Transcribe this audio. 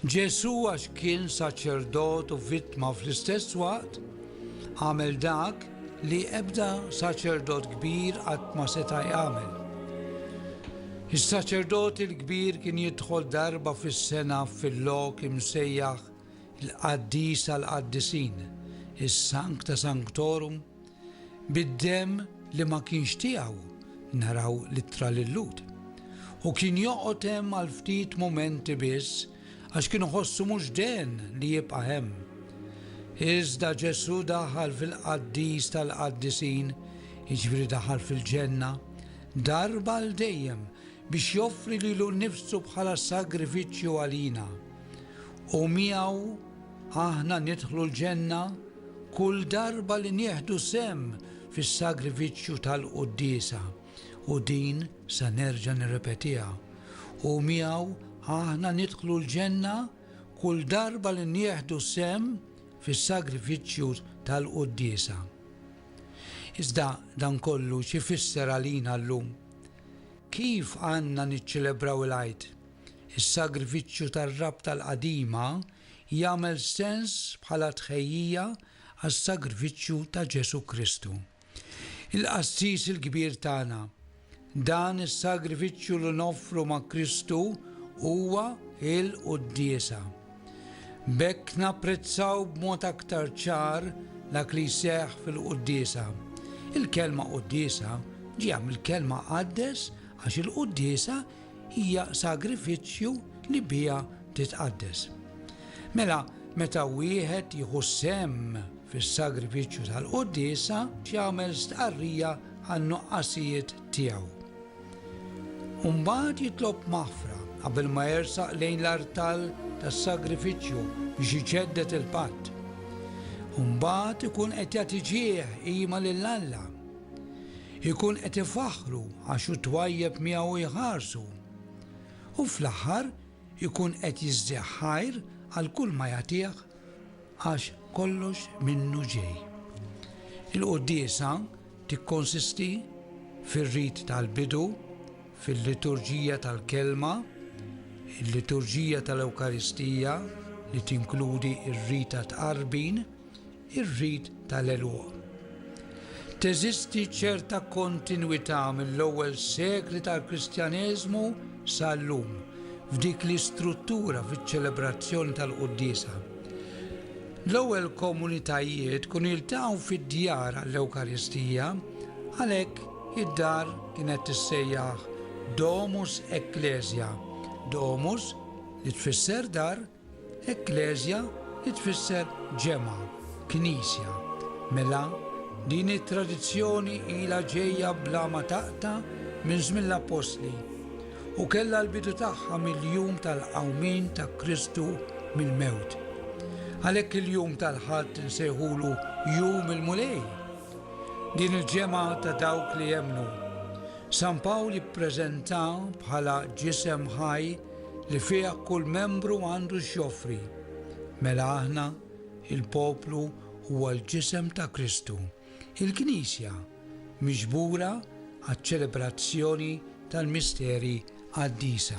Ġesù għax kien saċerdot u vittma fl-istess waqt, għamel dak li ebda saċerdot kbir qatt ma seta' jagħmel. Is-saċerdot il-kbir kien jidħol darba fis-sena fil-lok imsejjaħ il-qaddis tal-qaddisin, is-Sancta Sanctorum, Bid-demm li ma kienx tiegħu, naraw l-ittra lil Lut. Hu kien joqgħod hemm għal ftit mumenti biss għax kien iħossu mhux dehn li jibqa' hemm. Iżda Ġesù daħal fil-Qaddis tal-Qaddisin, jiġifieri daħal fil-Ġenna, darba għal dejjem biex joffri lilu nnifsu bħala sagrifiċċju għalina. U miegħu Aħna nidħlu l-ġenna kull darba li nieħdu sehem fis-sagrifiċċju tal-Quddiesa, u din sa nerġa' nirrepetiha, u miegħu aħna nidħlu l-ġenna kull darba li nieħdu sehem fis-sagrifiċċju tal-Quddiesa. Iżda dan kollu x'ifisser għalina llum? Kif għandna niċċelebraw il-Għid? Is-sagrifiċċju tar-rabta l-qadima jagħmel sens bħala tħejjija għas-sagrifiċċju ta' Ġesù Kristu, il-Qassis il-Kbir tagħna. Dan is-sagrifiċċju li noffru ma' Kristu huwa l-quddiesa. B'hekk napprezzaw b'mod aktar ċar dak li jseħħ fil-quddiesa. Il-kelma quddiesa ġejja mill-kelma qaddes għax il-quddiesa hija sagrifiċċju li biha titqaddes. Mela, meta wieħed jieħu sehem fis-sagrifiċċju tal-quddiesa, jagħmel stqarrija għan-nuqqasijiet tiegħu. U mbagħad jitlob maħfra qabel ma jersaq lejn l-artal tas-sagrifiċċju biex iġedded il-patt. U mbagħad ikun qed jagħti ġieħ qima lil Alla Ikun qed ifaħħru għax hu twajjeb miegħu jħarsu. U fl-aħħar ikun qed jiżdih ħajr għal kull ma jagħtih għax kollox minnu ġej. Il-quddiesa tikkonsisti fir-rit tal-bidu, fil-liturġija tal-kelma, il-liturġija tal-Ewkaristija li tinkludi r-rit tat-tqarbin, ir-rit tal-għeluq. Teżisti ċerta kontinwità mill-ewwel sekli tal-Kristjaneżmu sa llum f'dik l-istruttura fiċ-ċelebrazzjoni tal-quddiesa. L-ewwel komunitajiet kienu jiltaqgħu fid-djar għall-Ewkaristija, għalhekk id-dar kienet tissejjaħ domus ecclesia, domus li tfisser dar, Ekkleżja tfisser ġemgħa, knisja. Mela, din it-tradizzjoni ilha ġejja bla ma taqta' minn żmien l-appostli, u kellha l-bidu tagħha mill-jum tal-qawmien ta' Kristu mill-mewt. Għalhekk il-jum tal-Ħadd insejħulu Jum il-Mulej, din il-ġemgħa ta' dawk li jemmnu. San Pawl jippreżentah bħala ġisem ħaj li fiha kull membru għandu x'joffri, mela aħna, il-poplu, huwa l-Ġisem ta' Kristu, il-Knisja, miġbura għaċ-ċelebrazzjoni tal-misteri qaddisa.